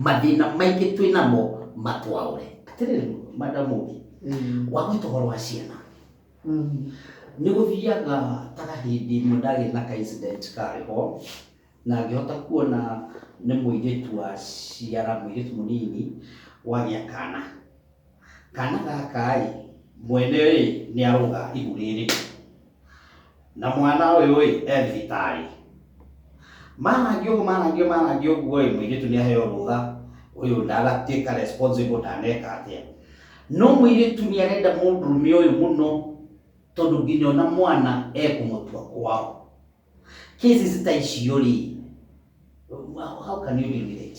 Mathĩna maingĩ twĩ namo matwaũre. Atĩrĩrĩ, Madam Mũgi, wagwĩta ũhoro wa ciana, nĩ gũthiaga ta hĩndĩ ĩmwe ndagĩa na ka incident karĩ ho, na ngĩhota kuona nĩ mũirĩtu waciara, mũirĩtu mũnini wagĩa kana. Kana gaka-ĩ, mwene-ĩ nĩ arũga ihu rĩrĩ. na mwana ũyũ-ĩ e thibitarĩ. Marangia ũguo marangia marangia ũguo-ĩ, mũirĩtu nĩaheo rũtha, ũyũ ndaratuĩka responsible ndaneka atĩa. No mũirĩtu nĩarenda mũndũrũme ũyũ mũno tondũ nginya ona mwana ekũmũtua kwao. Cases ta icio-rĩ, how can you deal with it?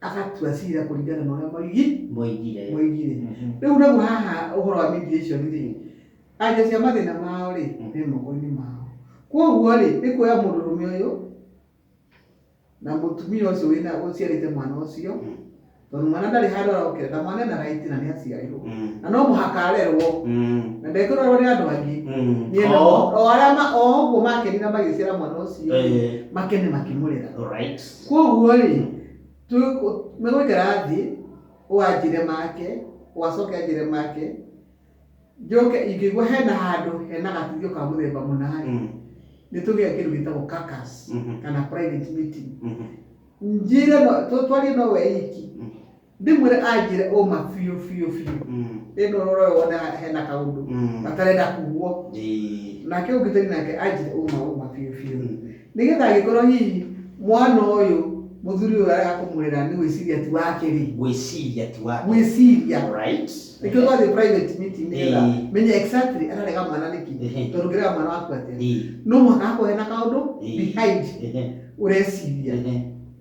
agatua cira kũringana na ũrĩa moigi moigire moigire Mhm. rĩu naguo haha ũhoro wa mediation rĩ anja cia mathĩna mao rĩ Mm. nĩ moko-inĩ mao kwoguo rĩ nĩ kuoya mũndũrũme ũyũ na mũtumia ũcio wĩna ũciarĩte mwana ũcio Mm. tondũ mwana ndarĩ handũ arokĩra na mwana ena raiti na nĩ aciarirwo Mm. na no mũhaka arerwo Mm. na ndekũrorwo nĩ andũ angĩ Mm. Nĩ ena- Oh, o arĩa ma- o ũguo makenire magĩciara mwana ũcio eh, makene makĩmũrera right. Kwoguo-rĩ, megũikara thĩ, ũũ anjĩre make, ũũ acoke anjĩre make, njoke ingĩigua hena handũ hena gatuthio ka mũthemba mũna-rĩ, nĩ tũgĩaga kĩndũ gĩtagwo caucus kana private meeting. Njĩre, twarie no we iki. ndĩmwĩre anjĩre ũma biũ biũ biũ Mm. ĩno ũrore wone hena kaũndũ Mm. gatarenda kuguo Ĩĩ. nake ũngĩtari nake anjĩre ũma ũma biũ biũ Mm. nĩgetha angĩkorwo hihi mwana ũyũ mũthuri ũyũ arega kũmũrera nĩ gwĩciria tu wake rĩ gwĩciria tu wake gwĩciria Alright. nĩkĩo twathiĩ private meeting nĩgetha Ĩĩ. menye exactly ararega mwana nĩkĩ Ehe. tondũ ngĩrega mwana waku atĩa Ĩĩ. no mũhaka hakorwo hena kaũndũ Ĩĩ. behind Ehe. ũreciria Ehe.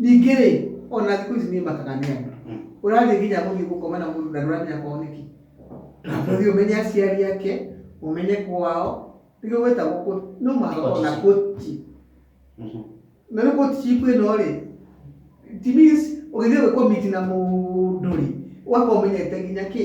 Ningĩ rĩ, o na thikũ ici niĩ makaga nĩ andũ. Ũrathiĩ nginya gũthiĩ gũkoma na mũndũ na ndũramenya kwao nĩkĩ. Ũthiĩ ũmenye aciari ake, ũmenye kwao, nĩkĩo gwĩtagwo court. No mũhaka gũkorwo na koti. Na rĩu courtship ĩno rĩ, it means ũgĩthiĩ gwĩ commit na mũndũ rĩ, ũgakorwo ũmenyete nginya kĩ?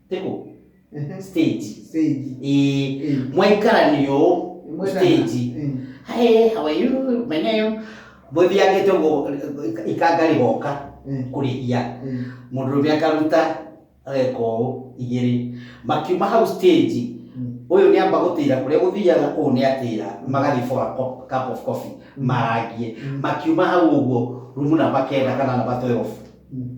teko stage stage Eh, Eh. mwaikala niyo Imwena- stage Eh. hae hawayu menyeyo muthiage togo ikangari goka Eh. kurihia Eh. mundurume akaruta ageka ũũ igĩrĩ makiuma hau stage Mm. ũyũ nĩ amba gũtĩra kũrĩa gũthiaga ũũ nĩ atĩra magathiĩ for a cup- cup of coffee marangie Mm. makiuma hau ũguo rumu namba kenda kana namba 12 Mm.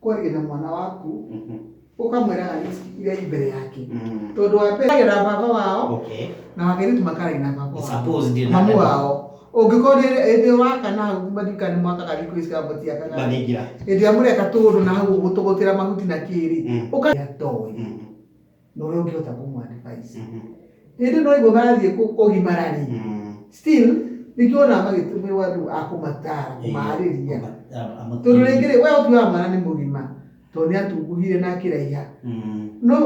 kwaria na mwana waku Mhm. ũkamwĩraga risk iria i mbere yake Mm. tondũ wa mbere na baba wao Okay. na wakerĩtu makarai na baba wao Suppose ndio mamu na- wao ũngĩkorwo ĩndĩ waka na hau mathika nĩ mwakaga riko ici kaba tiakaga Mathingira. ĩndĩ amũreka tũũndũ na hau ũgũtũgũtĩra mahuti na kĩrĩ Mm. ũkatoĩ Mm. na ũrĩa ũngĩhota kũmũ advise hĩndĩ no iguo marathiĩ kũ- kũgimara rĩ still nĩkĩo ona magĩtũmĩrwo andũ a kũmatara kũmarĩria tondũ rĩngĩ rĩ we ũthiũ wa mwana nĩ mũgima tondũ nĩ atunguhire na akĩraiha no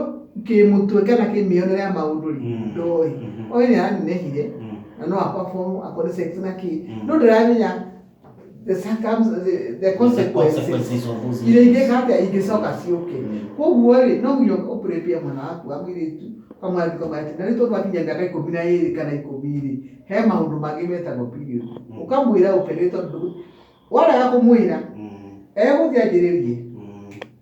kĩmũtwe kana kĩmĩonere ya maũndũ rĩ Mm. ndoĩ Mhm. oĩ nĩ aranenehire na no akwa bomu akwa nĩ sex na kĩ Mm. no ndaramenya the circums the, the consequences consequences of those iria actions. ingĩka atĩa ingĩcoka ciũke Mm. koguo rĩ no nginya ũpũrĩpia mwana waku wa mũirĩtu kamwarĩtu kamwarĩtu na nĩ tondũ akinya mĩaka ikũmi na ĩrĩ kana ikũmi rĩ he maũndũ mangĩ metagwo period Mm. ũkamwĩra ũpe nĩ tondũ warega kũmwĩra Mm. egũthiĩ anjĩrĩrie Mm.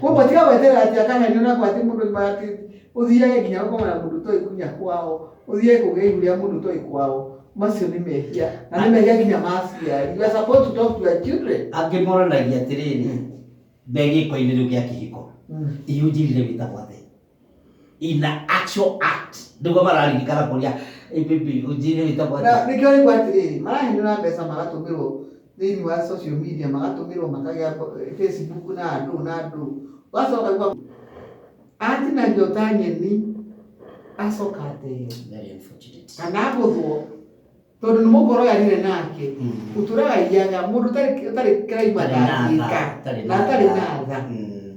Koguo tiga gweterera atĩ akaherio na gwatĩ mũndũ nyuma atĩ ũthiage nginya gũkoma na mũndũ ũtoĩ nginya kwao, ũthiage kũgĩa ihu rĩa mũndũ ũtoĩ kwao. Macio nĩ mehia, na nĩ mehia nginya ma aciari. You are supposed to talk to your children. Angĩ moranagia atĩrĩrĩ, me gĩko-inĩ rĩu gĩa kĩhiko, ihu njirĩre wĩtagwo atĩa? in the actual act niguo mararirikana kuria ibibi ujire witagwo atĩa? Na nĩkĩo rĩu atĩrĩrĩ marahenera mbeca magatũmĩrwo thĩinĩ wa social media magatũmĩrwo makagĩa mbo- eh, facebook na andũ na andũ ũgacoka gwa atinagio ta nyeni acoka ateo Very unfortunate. kana agũthwo tondũ nĩ mũkoro yarire nake Mm. ũtũraga iyaga mũndũ ũtarĩ- ũtarĩ kĩraima Tarĩ na tha, ndangĩka tarĩ na na atarĩ tha. na tha Mm.